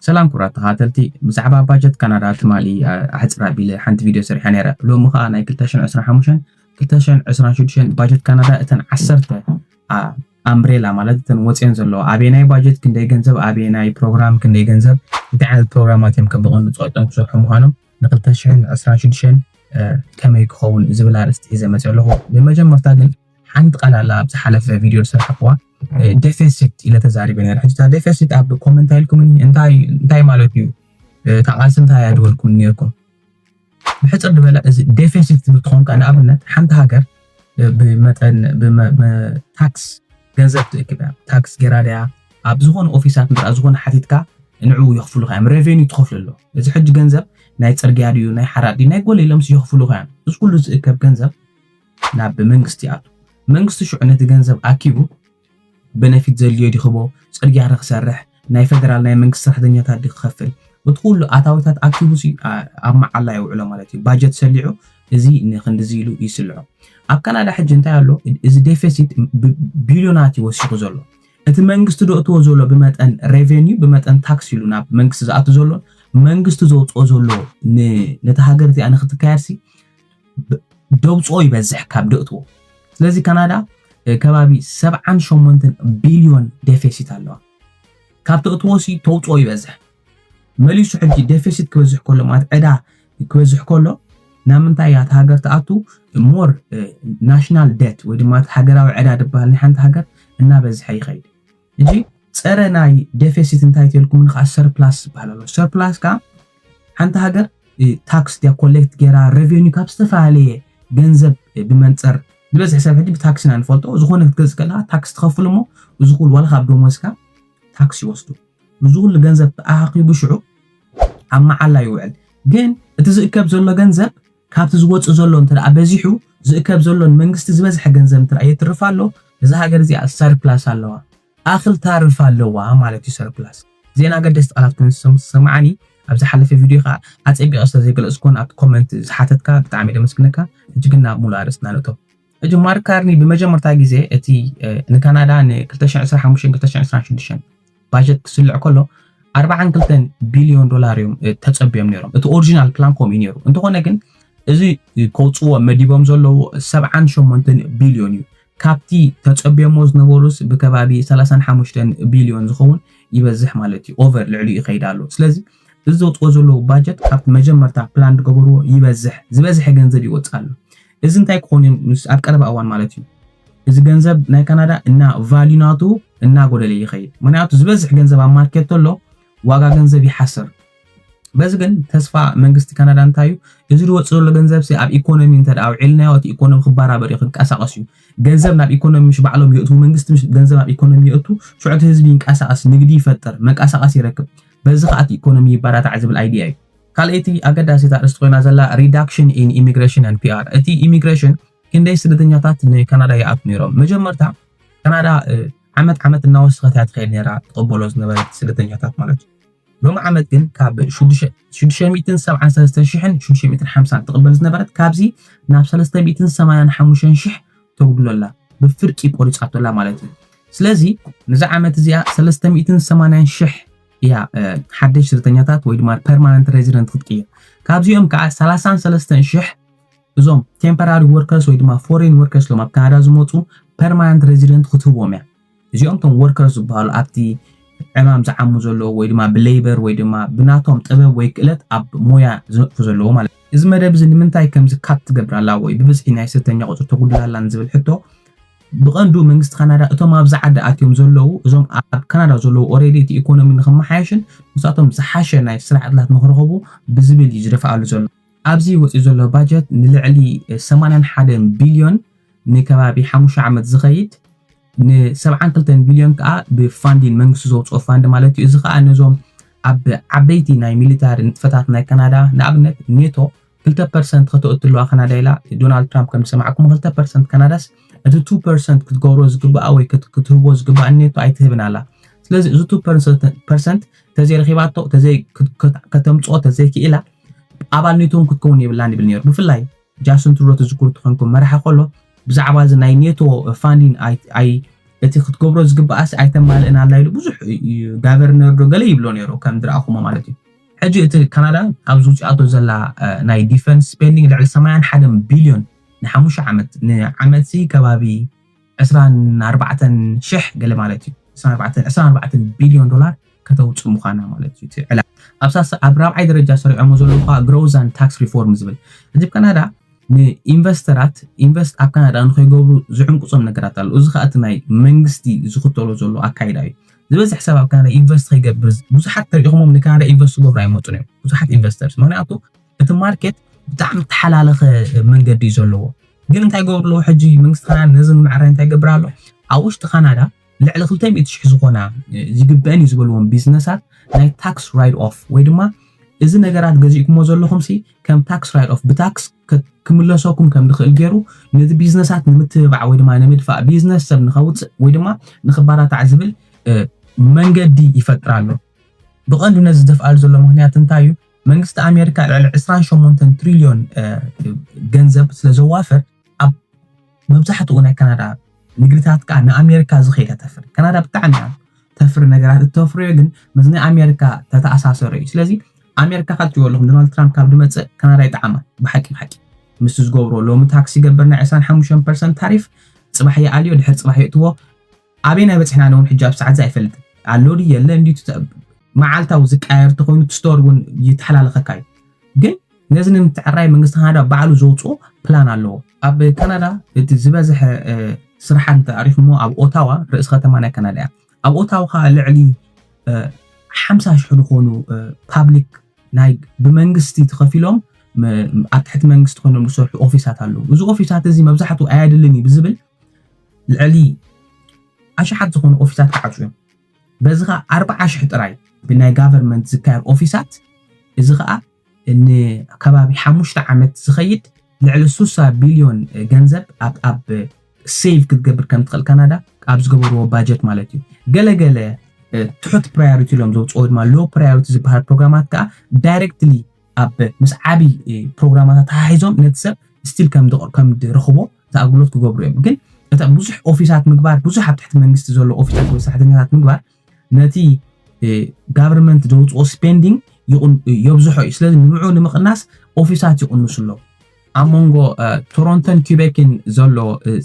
ሰላም ክብራት ተኸታተልቲ ብዛዕባ ባጀት ካናዳ ትማሊ ኣሕፅር ኣቢለ ሓንቲ ቪድዮ ሰሪሐ ነይረ ሎሚ ከዓ ናይ 225 226 ባጀት ካናዳ እተን ዓሰርተ ኣምብሬላ ማለት እተን ወፅዮን ዘለዎ ኣበየናይ ባጀት ክንደይ ገንዘብ ኣበየናይ ፕሮግራም ክንደይ ገንዘብ እንታይ ዓይነት ፕሮግራማት እዮም ከም ብቐንዱ ፀቂጦም ክሰርሑ ምዃኖም ን226 ከመይ ክኸውን ዝብል ኣርእስቲ ሒዘ መፅእ ኣለኹ ብመጀመርታ ግን ሓንቲ ቃል ኣላ ኣብ ዝሓለፈ ቪድዮ ዝሰራሕኩዋ ደፌሲት ኢለ ተዛሪበ ነረ ሕጂ እታ ደፌሲት ኣብ ኮመንት ኣይልኩምኒ እንታይ ማለት እዩ እታ ቃልሲ እንታይ እያ ድበልኩም ነርኩም ብሕፅር ዝበለ እዚ ደፌሲት ትብል ትኸውን ከዓ ንኣብነት ሓንቲ ሃገር ብመጠን ታክስ ገንዘብ ትእክብ እያ ታክስ ገይራ ድያ ኣብ ዝኾነ ኦፊሳት ምራ ዝኾነ ሓቲትካ ንዕኡ የኽፍሉካ እዮም ሬቨኒ ትኸፍሉ ኣሎ እዚ ሕጂ ገንዘብ ናይ ፅርግያ ድዩ ናይ ሓራዲ ናይ ጎለ ኢሎም የኽፍሉካ እዮም እዚ ኩሉ ዝእከብ ገንዘብ ናብ መንግስቲ ይኣቱ። መንግስቲ ሽዑ ነቲ ገንዘብ ኣኪቡ በነፊት ዘድልዮ ዲክቦ፣ ጽርግያ ድክሰርሕ፣ ናይ ፈደራል ናይ መንግስቲ ሰራሕተኛታት ድክከፍል፣ እቲ ኩሉ ኣታዊታት ኣኪቡሲ ኣብ መዓላ የውዕሎ ማለት እዩ። ባጀት ሰሊዑ እዚ ንክንድዚ ኢሉ ይስልዖ። ኣብ ካናዳ ሕጂ እንታይ ኣሎ እዚ ዴፌሲት ብቢልዮናት እዩ ወሲኹ ዘሎ። እቲ መንግስቲ ደእትዎ ዘሎ ብመጠን ሬቨንዩ ብመጠን ታክስ ኢሉ ናብ መንግስቲ ዝኣቱ ዘሎን መንግስቲ ዘውጽኦ ዘሎ ነታ ሃገር እቲኣ ንክትካየድሲ ደውፅኦ ይበዝሕ ካብ ደእትዎ ስለዚ ካናዳ ከባቢ 78 ቢልዮን ደፌሲት ኣለዋ ካብ ተእትዎሲ ተውፅኦ ይበዝሕ መሊሱ ሕጂ ደፌሲት ክበዝሕ ከሎ ማለት ዕዳ ክበዝሕ ከሎ ናብ ምንታይ እያ እቲ ሃገር ትኣቱ ሞር ናሽናል ደት ወይ ድማ ሃገራዊ ዕዳ ዝበሃል ናይ ሓንቲ ሃገር እናበዝሐ ይኸይድ ሕጂ ጸረ ናይ ደፌሲት እንታይ ተልኩምኒ ከኣ ሰርፕላስ ዝበሃል ኣሎ ሰርፕላስ ከኣ ሓንቲ ሃገር ታክስ ድያ ኮሌክት ገይራ ረቨኒ ካብ ዝተፈላለየ ገንዘብ ብመንጽር ዝበዝሕ ሰብ ሕጂ ብታክሲ ኢና ንፈልጦ ዝኾነ ክትገዝእ ከለካ ታክስ ትኸፍል እሞ እዚ ኩሉ ዋላ ካብ ደሞዝካ ታክስ ይወስዱ እዚ ኩሉ ገንዘብ ተኣኻኺቡ ሽዑ ኣብ መዓላ ይውዕል ግን እቲ ዝእከብ ዘሎ ገንዘብ ካብቲ ዝወጽእ ዘሎ እንተደኣ በዚሑ ዝእከብ ዘሎ ንመንግስቲ ዝበዝሐ ገንዘብ እንተደኣ የትርፍ ኣሎ እዛ ሃገር እዚኣ ሰርፕላስ ኣለዋ ኣክል ታርፍ ኣለዋ ማለት እዩ ሰርፕላስ ዜና ኣገደስቲ ቃላት ኮይኑ ዝተሰማዓኒ ኣብ ዝሓለፈ ቪድዮ ከኣ ኣጸቢቐ ስለ ዘይገለጽኩዎን ኣብቲ ኮመንት ዝሓተትካ ብጣዕሚ ደመስግነካ ሕጂ ግን ናብ ሙሉእ ኣርእስትና ንእቶ ሕጂ ማርክ ካርኒ ብመጀመርታ ግዜ እቲ ንካናዳ ን2025-2026 ባጀት ክስልዕ ከሎ 42 ቢልዮን ዶላር እዮም ተጸብዮም ነይሮም እቲ ኦሪጂናል ፕላን ከምኡ እዩ ነይሩ እንተኾነ ግን እዚ ከውፅዎ መዲቦም ዘለዉ 78 ቢልዮን እዩ ካብቲ ተጸብዮሞ ዝነበሩስ ብከባቢ 35 ቢልዮን ዝኸውን ይበዝሕ ማለት እዩ ኦቨር ልዕሊ ይኸይድ ኣሎ ስለዚ እዚ ዘውፅዎ ዘለዉ ባጀት ካብቲ መጀመርታ ፕላን ዝገበርዎ ይበዝሕ ዝበዝሐ ገንዘብ ይወፅ ኣሎ እዚ እንታይ ክኾን እዩ ምስ ኣብ ቀረባ እዋን ማለት እዩ እዚ ገንዘብ ናይ ካናዳ እና ቫልዩ ናቱ እናጎደለ ይኸይድ ምክንያቱ ዝበዝሕ ገንዘብ ኣብ ማርኬት ተሎ ዋጋ ገንዘብ ይሓስር በዚ ግን ተስፋ መንግስቲ ካናዳ እንታይ እዩ እዚ ዝወፅእ ዘሎ ገንዘብ ሲ ኣብ ኢኮኖሚ እንተ ኣውዒልናዮ እቲ ኢኮኖሚ ክባራበር እዩ ክንቀሳቀስ እዩ ገንዘብ ናብ ኢኮኖሚ ምሽ ባዕሎም የእትዉ መንግስቲ ምሽ ገንዘብ ናብ ኢኮኖሚ የእቱ ሽዑ እቲ ህዝቢ ይንቀሳቀስ ንግዲ ይፈጥር መንቀሳቀስ ይረክብ በዚ ከዓ እቲ ኢኮኖሚ ይበራታዕ ዝብል ኣይዲያ እዩ ካልኣይቲ ኣገዳሲት ኣርእስቲ ኮይና ዘላ ሪዳክሽን ኢን ኢሚግሬሽን ኣንድ ፒኣር እቲ ኢሚግሬሽን ክንደይ ስደተኛታት ንካናዳ ይኣት ነይሮም መጀመርታ ካናዳ ዓመት ዓመት እናወሰኸት እያ ትኸይድ ነራ ትቕበሎ ዝነበረት ስደተኛታት ማለት እዩ ሎሚ ዓመት ግን ካብ 673,650 ትቕበል ዝነበረት ካብዚ ናብ 385,000 ተጉድሎ ኣላ ብፍርቂ ቆሪፃቶ ኣላ ማለት እዩ ስለዚ ንዚ ዓመት እዚኣ 380,000 እያ ሓደሽ ስደተኛታት ወይ ድማ ፐርማነንት ሬዚደንት ክትቅይር ካብዚኦም ከዓ 33 ሽሕ እዞም ቴምፖራሪ ወርከርስ ወይ ድማ ፎሬን ወርከርስ ሎም ኣብ ካናዳ ዝመፁ ፐርማነንት ሬዚደንት ክትህቦም እያ እዚኦም ቶም ወርከርስ ዝበሃሉ ኣብቲ ዕማም ዝዓሙ ዘለዎ ወይ ድማ ብሌበር ወይ ድማ ብናቶም ጥበብ ወይ ክእለት ኣብ ሞያ ዝነጥፉ ዘለዎ ማለት እዩ እዚ መደብ እዚ ንምንታይ ከምዚ ካፕ ትገብር ኣላ ወይ ብብዝሒ ናይ ስደተኛ ቁፅሪ ተጉድል ኣላ ንዝብል ሕቶ ብቐንዱ መንግስቲ ካናዳ እቶም ኣብዚ ዓዲ ኣትዮም ዘለዉ እዞም ኣብ ካናዳ ዘለዉ ኦሬዲ እቲ ኢኮኖሚ ንክመሓየሽን ንሳቶም ዝሓሸ ናይ ስራሕ ዕድላት ንክረኽቡ ብዝብል እዩ ዝደፍኣሉ ዘሎ። ኣብዚ ወፂኡ ዘሎ ባጀት ንልዕሊ ሰማንያን ሓደን ቢልዮን ንከባቢ ሓሙሽተ ዓመት ዝኸይድ ን ሰብዓን ክልተን ቢልዮን ከዓ ብፋንዲን መንግስቲ ዘውፅኦ ፋንድ ማለት እዩ። እዚ ከዓ ነዞም ኣብ ዓበይቲ ናይ ሚሊታሪ ንጥፈታት ናይ ካናዳ ንኣብነት ኔቶ ክልተ ፐርሰንት ከተእትሉዋ ካናዳ ኢላ ዶናልድ ትራምፕ ከም ዝሰማዕኩሞ ክልተ ፐርሰንት ካናዳስ እቲ ቱ ፐርሰንት ክትገብሮ ዝግባኣ ወይ ክትህቦ ዝግባኣ ኔቶ ኣይትህብን ኣላ ስለዚ እዚ ቱ ፐርሰንት ተዘይረኺባቶ ተዘይ ከተምፅኦ ተዘይክኢላ ኣባል ኔቶ እውን ክትከውን የብላን ይብል ነይሩ ብፍላይ ጃስን ትሩዶ ትዝክሩ ትኾንኩም መራሒ ከሎ ብዛዕባ እዚ ናይ ኔቶ ፋንዲን ኣይ እቲ ክትገብሮ ዝግባኣስ ኣይተማልእን ኣላ ኢሉ ብዙሕ ጋቨርነር ዶ ገለ ይብሎ ነይሩ ከም ዝረኣኹሞ ማለት እዩ ሕጂ እቲ ካናዳ ኣብዚ ውጺኣቶ ዘላ ናይ ዲፈንስ ስፔንዲንግ ልዕሊ ሰማያን ሓደን ቢልዮን ንሓሙሽተ ዓመት ንዓመትሲ ከባቢ ዕስራን ኣርባዕተን ሽሕ ገለ ማለት እዩ ዕስራን ኣርባዕተን ዕስራን ኣርባዕተን ቢልዮን ዶላር ከተውጽእ ምዃና ማለት እዩ እቲ ዕላል ኣብ ሳልሳይ ኣብ ራብዓይ ደረጃ ሰሪዖሞ ዘለዉ ከኣ ግሮውዝ ኣንድ ታክስ ሪፎርም ዝብል ሕጂ ብ ካናዳ ንኢንቨስተራት ኢንቨስት ኣብ ካናዳ ንኸይገብሩ ዝዕንቅጾም ነገራት ኣሎ እዚ ከኣ እቲ ናይ መንግስቲ ዝኽተሎ ዘሎ ኣካይዳ እዩ ዝበዝሕ ሰብ ኣብ ካናዳ ኢንቨስት ከይገብር ብዙሓት ተሪኢኹሞም ንካናዳ ኢንቨስት ክገብሩ ኣይመፁን እዮም ብዙሓት ኢንቨስተርስ ምክንያቱ እቲ ማርኬት ብጣዕሚ ተሓላለኸ መንገዲ እዩ ዘለዎ ግን እንታይ ገብሩ ኣለዎ ሕጂ መንግስቲ ካናዳ ነዚ ንምዕራይ እንታይ ይገብር ኣሎ ኣብ ውሽጢ ካናዳ ልዕሊ 200 ሽሕ ዝኾና ዝግበአን እዩ ዝበልዎም ቢዝነሳት ናይ ታክስ ራይድ ኦፍ ወይ ድማ እዚ ነገራት ገዚእኩሞ ዘለኹም ሲ ከም ታክስ ራይድ ኦፍ ብታክስ ክምለሰኩም ከም ድኽእል ገይሩ ነዚ ቢዝነሳት ንምትብባዕ ወይ ድማ ንምድፋእ ቢዝነስ ሰብ ንኸውፅእ ወይ ድማ ንኽባራታዕ ዝብል መንገዲ ይፈጥር ኣሎ። ብቐንዱ ነዚ ዝደፍኣሉ ዘሎ ምክንያት እንታይ እዩ? መንግስቲ ኣሜሪካ ልዕሊ 28 ትሪልዮን ገንዘብ ስለ ዘዋፍር ኣብ መብዛሕትኡ ናይ ካናዳ ንግድታት ከዓ ንኣሜሪካ ዝኸይድ ተተፍሪ ካናዳ ብጣዕሚ እያ ተፍሪ ነገራት እተፍርዮ ግን ምስ ናይ ኣሜሪካ ተተኣሳሰሩ እዩ ስለዚ ኣሜሪካ ካብ ትበለኹም ዶናልድ ትራምፕ ካብ ድመፅእ ካናዳ ይጠዓማ ብሓቂ ብሓቂ ምስ ዝገብሮ ሎሚ ታክሲ ገበርና 25 ፐርሰንት ታሪፍ ፅባሕ ይኣልዮ ድሕር ፅባሕ የእትዎ ኣበይ ናይ በጽሕና ነውን ሕጂ ኣብ ሰዓትዚ ኣይፈልጥን ኣሎ ድዩ የለን ድዩ ትተብ መዓልታዊ ዝቀያየር ተኾይኑ ትስቶር እውን ይተሓላለኸካ እዩ ግን ነዚ ንምትዕራይ መንግስቲ ካናዳ ባዕሉ ዘውፅኦ ፕላን ኣለዎ ኣብ ካናዳ እቲ ዝበዝሐ ስራሓት እንተኣሪኹሞ ኣብ ኦታዋ ርእሲ ከተማ ናይ ካናዳ እያ ኣብ ኦታዋ ከዓ ልዕሊ ሓምሳ ሽሕ ዝኾኑ ፓብሊክ ናይ ብመንግስቲ ተኸፊሎም ኣብ ትሕቲ መንግስቲ ኮይኖም ዝሰርሑ ኦፊሳት ኣለዉ እዚ ኦፊሳት እዚ መብዛሕትኡ ኣየድልን እዩ ብዝብል ልዕሊ ኣሽሓት ዝኾኑ ኦፊሳት ክዓፁ እዮም በዚ ከዓ ኣርብዓ ሽሕ ጥራይ ብናይ ጋቨርንመንት ዝካየድ ኦፊሳት እዚ ከዓ ንከባቢ ሓሙሽተ ዓመት ዝኸይድ ልዕሊ ሱሳ ቢልዮን ገንዘብ ኣብ ሴቭ ክትገብር ከም ትኽእል ካናዳ ኣብ ዝገበርዎ ባጀት ማለት እዩ ገለገለ ትሑት ፕራዮሪቲ ኢሎም ዘውፅኦ ድማ ሎ ፕራዮሪቲ ዝበሃል ፕሮግራማት ከዓ ዳይሬክትሊ ኣብ ምስ ዓቢ ፕሮግራማት ኣተሓሒዞም ነቲ ሰብ ስቲል ከም ድረኽቦ እቲ ኣገልግሎት ክገብሩ እዮም ግን እታ ብዙሕ ኦፊሳት ምግባር ብዙሕ ኣብ ትሕቲ መንግስቲ ዘሎ ኦፊሳት ወይ ሰራሕተኛታት ምግባር ነቲ ጋቨርንመንት ዘውፅኦ ስፔንዲንግ የብዝሖ እዩ ስለዚ ንብዑ ንምቕናስ ኦፊሳት ይቕንሱ ኣለዉ ኣብ መንጎ ቶሮንቶን ኲቤክን ዘሎ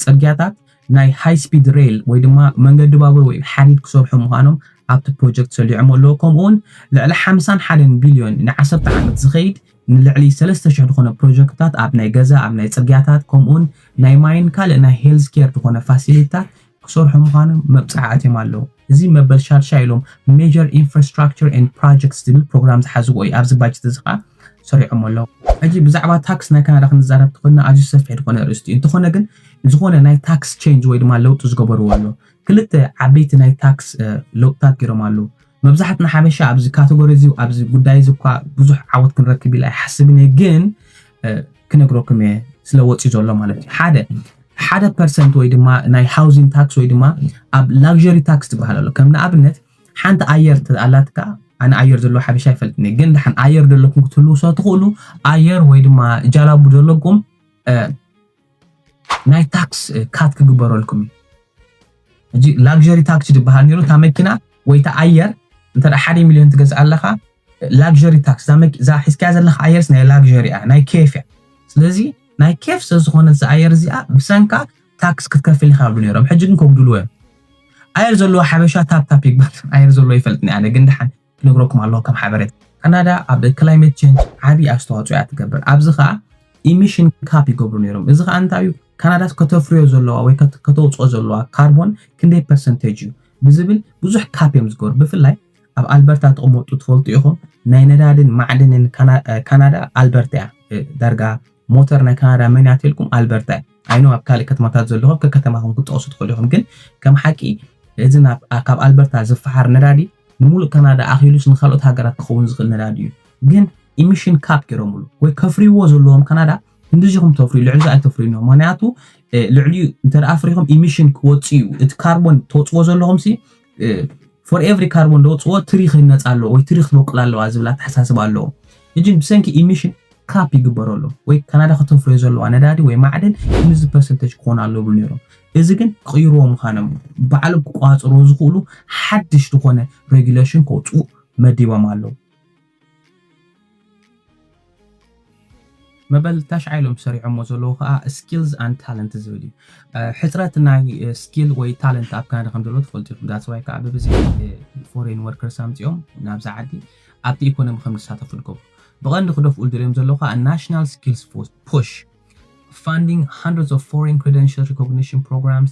ጽርግያታት ናይ ሃይ ስፒድ ሬል ወይ ድማ መንገዲ ባቡር ወይ ሓዲድ ክሰርሑ ምዃኖም ኣብቲ ፕሮጀክት ሰሊዖሞ ኣለዎ። ከምኡውን ልዕሊ ሓምሳን ሓደን ቢልዮን ንዓሰርተ ዓመት ዝኸይድ ንልዕሊ ሰለስተ ሽሕ ዝኾነ ፕሮጀክትታት ኣብ ናይ ገዛ፣ ኣብ ናይ ጽርግያታት ከምኡውን ናይ ማይን ካልእ ናይ ሄልዝ ኬር ዝኾነ ፋሲሊቲታት ክሰርሑ ምዃኖም መብጽዓ ኣትዮም ኣለዉ። እዚ መበል ሻድሻይ ኢሎም Major Infrastructure and Projects ዝብል ፕሮግራም ዝሓዝዎ እዩ። ኣብዚ ባጀት እዚ ከኣ ሰሪዖሞ ኣለዉ። ሕጂ ብዛዕባ ታክስ ናይ ካናዳ ክንዛረብ እንተኾይንና ኣዝዩ ሰፊሕ ዝኾነ ኣርእስቲ እዩ። እንተኾነ ግን ዝኾነ ናይ ታክስ ቼንጅ ወይ ድማ ለውጢ ዝገበርዎ ኣሎ። ክልተ ዓበይቲ ናይ ታክስ ለውጥታት ጌሮም ኣለዉ። መብዛሕትና ሓበሻ ኣብዚ ካተጎሪ እዚ ኣብዚ ጉዳይ እዚ እኳ ብዙሕ ዓወት ክንረክብ ኢለ ኣይሓስብን እየ ግን ክነግረኩም እየ ስለ ወፂ ዘሎ ማለት እዩ ሓደ ሓደ ፐርሰንት ወይ ድማ ናይ ሃውዚን ታክስ ወይ ድማ ኣብ ላግዠሪ ታክስ ትበሃል ኣሎ ከም ንኣብነት ሓንቲ ኣየር ኣላትካ ኣነ ኣየር ዘለዎ ሓበሻ ይፈልጥኒ ግን ድሓን ኣየር ዘለኩም ክትህልው ሰ ትኽእሉ ኣየር ወይ ድማ ጃላቡ ዘለኩም ናይ ታክስ ካት ክግበረልኩም እዩ እዚ ላግዠሪ ታክሲ ዝበሃል ነይሩ እታ መኪና ወይ እታ ኣየር እንተ ሓደ ሚሊዮን ትገዝእ ኣለኻ ላግዠሪ ታክስ እዛ ሒዝካያ ዘለካ ኣየርስ ናይ ላግዠሪ እያ ናይ ኬፍ እያ ስለዚ ናይ ኬፍ ስለዝኾነት እዛ ኣየር እዚኣ ብሰንካ ታክስ ክትከፍል ኢኻ ብሉ ነይሮም ሕጂ ግን ከጉድልዎ እዮም ኣየር ዘለዎ ሓበሻ ታፕታፕ ይግባት ኣየር ዘለዎ ይፈልጥኒ ኣነ ግን ድሓን ክነግረኩም ኣለኩ ከም ሓበሬታ ካናዳ ኣብ ክላይመት ቸንጅ ዓብዪ ኣስተዋፅኦ እያ ትገብር ኣብዚ ከዓ ኢሚሽን ካፕ ይገብሩ ነይሮም እዚ ከዓ እንታይ እዩ ካናዳስ ከተፍርዮ ዘለዋ ወይ ከተውፅኦ ዘለዋ ካርቦን ክንደይ ፐርሰንቴጅ እዩ ብዝብል ብዙሕ ካፕ እዮም ዝገብሩ ብፍላይ ኣብ ኣልበርታ ተቕመጡ ትፈልጡ ኢኹም ናይ ነዳድን ማዕድንን ካናዳ ኣልበርታ እያ ዳርጋ ሞተር ናይ ካናዳ መን እያ ተልኩም ኣልበርታ እያ ኣይ ኖው ኣብ ካልእ ከተማታት ዘለኹም ከከተማኹም ክትጠቕሱ ትኽእሉ ኢኹም ግን ከም ሓቂ እዚ ናብ ካብ ኣልበርታ ዝፈሓር ነዳዲ ንሙሉእ ካናዳ ኣኺሉስ ንካልኦት ሃገራት ክኸውን ዝኽእል ነዳዲ እዩ ግን ኢሚሽን ካፕ ገይሮምሉ ወይ ከፍርይዎ ዘለዎም ካናዳ ክንዲዚኹም ተፍርዩ ልዕሊ እዚ ኣይተፍርዩን እዮም ምክንያቱ ልዕሊኡ እንተ ኣፍሪኹም ኢሚሽን ክወፅእ እዩ እቲ ካርቦን ተውፅዎ ዘለኹም ሲ ፎር ኤቭሪ ካርቦን ዘውፅኦ ትሪ ክህነፅ ኣለዎ ወይ ትሪ ክትበቁል ኣለዋ ዝብል ኣተሓሳስባ ኣለዎ እጅን ብሰንኪ ኢሚሽን ካፕ ይግበሮ ኣሎ ወይ ካናዳ ከተፍርዮ ዘለዋ ነዳዲ ወይ ማዕድን ክንዚ ፐርሰንተጅ ክኾን ኣሎ ይብሉ ነይሮም እዚ ግን ክቕይርዎ ምዃኖም ባዕሎም ክቋፅርዎ ዝኽእሉ ሓድሽ ዝኾነ ሬጉሌሽን ከውፅኡ መዲቦም ኣለዉ መበል ታሽዓይ ኢሎም ሰሪዖሞ ዘለዉ ከዓ ስኪልስ ኣንድ ታለንት ዝብል እዩ ሕፅረት ናይ ስኪል ወይ ታለንት ኣብ ካናዳ ከም ዘለዎ ትፈልጡ ኢኹም ዳፅዋይ ከዓ ብብዝሒ ፎሬን ወርከርስ ኣምፅኦም ናብዚ ዓዲ ኣብቲ ኢኮኖሚ ከም ዝሳተፉ ንገብሩ ብቐንዲ ክደፍኡ ዝደልዮም ዘለዉ ከዓ ናሽናል ስኪልስ ፑሽ ፋንዲንግ ሃንድረድስ ኦፍ ፎሬን ክሬደንሽል ሪኮግኒሽን ፕሮግራምስ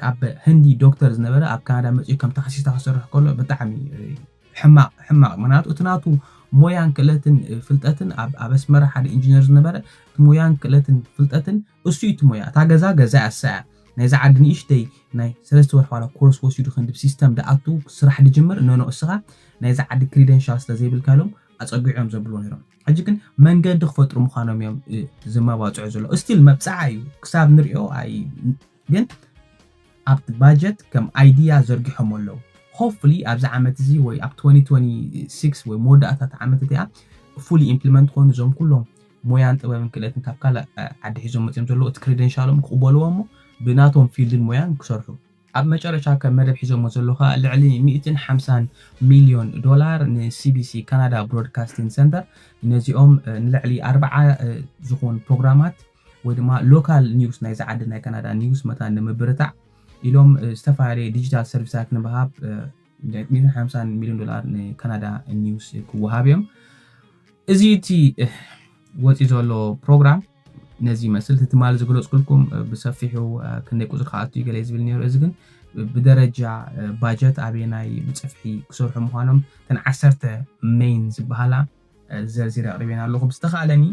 ካብ ህንዲ ዶክተር ዝነበረ ኣብ ካናዳ መጺኡ ከም ታክሲስታ ክሰርሕ ከሎ ብጣዕሚ ሕማቕ ሕማቕ ምክንያቱ እቲ ናቱ ሞያን ክእለትን ፍልጠትን ኣብ ኣብ ኣስመራ ሓደ ኢንጂነር ዝነበረ እቲ ሞያን ክእለትን ፍልጠትን እሱ እዩ እቲ ሞያ እታ ገዛ ገዛ እያ እሳ እያ ናይዛ ዓዲ ንእሽተይ ናይ ሰለስተ ወርሒ ዋላ ኮርስ ወሲዱ ክንዲ ሲስተም ደኣቱ ስራሕ ድጅምር ኖኖ እስኻ ናይዛ ዓዲ ክሪደንሻል ስለ ዘይብልካ ኢሎም ኣጸጊዖም ዘብልዎ ነይሮም ሕጂ ግን መንገዲ ክፈጥሩ ምዃኖም እዮም ዝመባጽዑ ዘሎ እስቲል መብጽዓ እዩ ክሳብ ንሪኦ ግን ኣብቲ ባጀት ከም ኣይድያ ዘርጊሖም ኣለዉ ሆፕፉሊ ኣብዚ ዓመት እዚ ወይ ኣብ 2026 ወይ መወዳእታ እቲ ዓመት እቲኣ ፉሊ ኢምፕሊመንት ኮይኑ እዞም ኩሎም ሞያን ጥበብን ክእለትን ካብ ካልእ ዓዲ ሒዞም መጺኦም ዘለዉ እቲ ክሬደንሻሎም ክቕበልዎ እሞ ብናቶም ፊልድን ሞያን ክሰርሑ ኣብ መጨረሻ ከም መደብ ሒዘሞ ዘለዉ ከኣ ልዕሊ ሚእትን ሓምሳን ሚልዮን ዶላር ንሲቢሲ፣ ካናዳ ብሮድካስቲን ሰንተር፣ ነዚኦም ንልዕሊ ኣርብዓ ዝኹን ፕሮግራማት ወይ ድማ ሎካል ኒውስ ናይዛ ዓዲ ናይ ካናዳ ኒውስ መታን ንምብርታዕ ኢሎም ዝተፈላለየ ዲጂታል ሰርቪሳት ንምሃብ ሚእትን ሓምሳን ሚልዮን ዶላር ንካናዳ ኒውስ ክወሃብ እዮም እዚ እቲ ወፂ ዘሎ ፕሮግራም ነዚ ይመስል እቲ ትማሊ ዝገለፅኩልኩም ብሰፊሑ ክንደይ ቁፅሪ ክኣቱ ይገለ ዝብል ነይሩ እዚ ግን ብደረጃ ባጀት ኣበየናይ ብፅፍሒ ክሰርሑ ምዃኖም ተን ዓሰርተ ሜይን ዝበሃላ ዘርዚረ ኣቕሪበን ኣለኹ ብዝተኻለኒ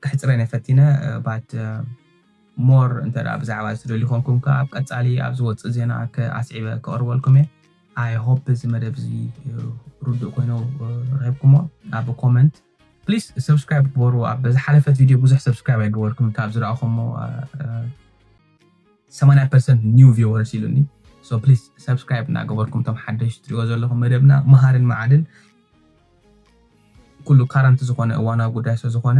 ክሕፅረን ፈቲነ ባት More እንተ ብዛዕባ እዚ ትደልዩ ኮንኩም ከኣ ኣብ ቀጻሊ ኣብ ዝወጽእ ዜና ከ ኣስዒበ ከቕርበልኩም እየ። I hope እዚ መደብ እዚ ርዱእ ኮይኑ ረኺብኩሞ ኣብ comment። Please subscribe ግበሩ ኣብ ዝሓለፈት video ብዙሕ subscribe ኣይገበርኩምን ካብ ዝረኣኹሞ ሰማንያ ፐርሰንት new viewers ኢሉኒ so please subscribe እናገበርኩም እቶም ሓደሽቲ ትሪእዎ ዘለኹም መደብና መሃርን መዓድን ኩሉ current ዝኾነ እዋናዊ ጉዳይ ስለዝኾነ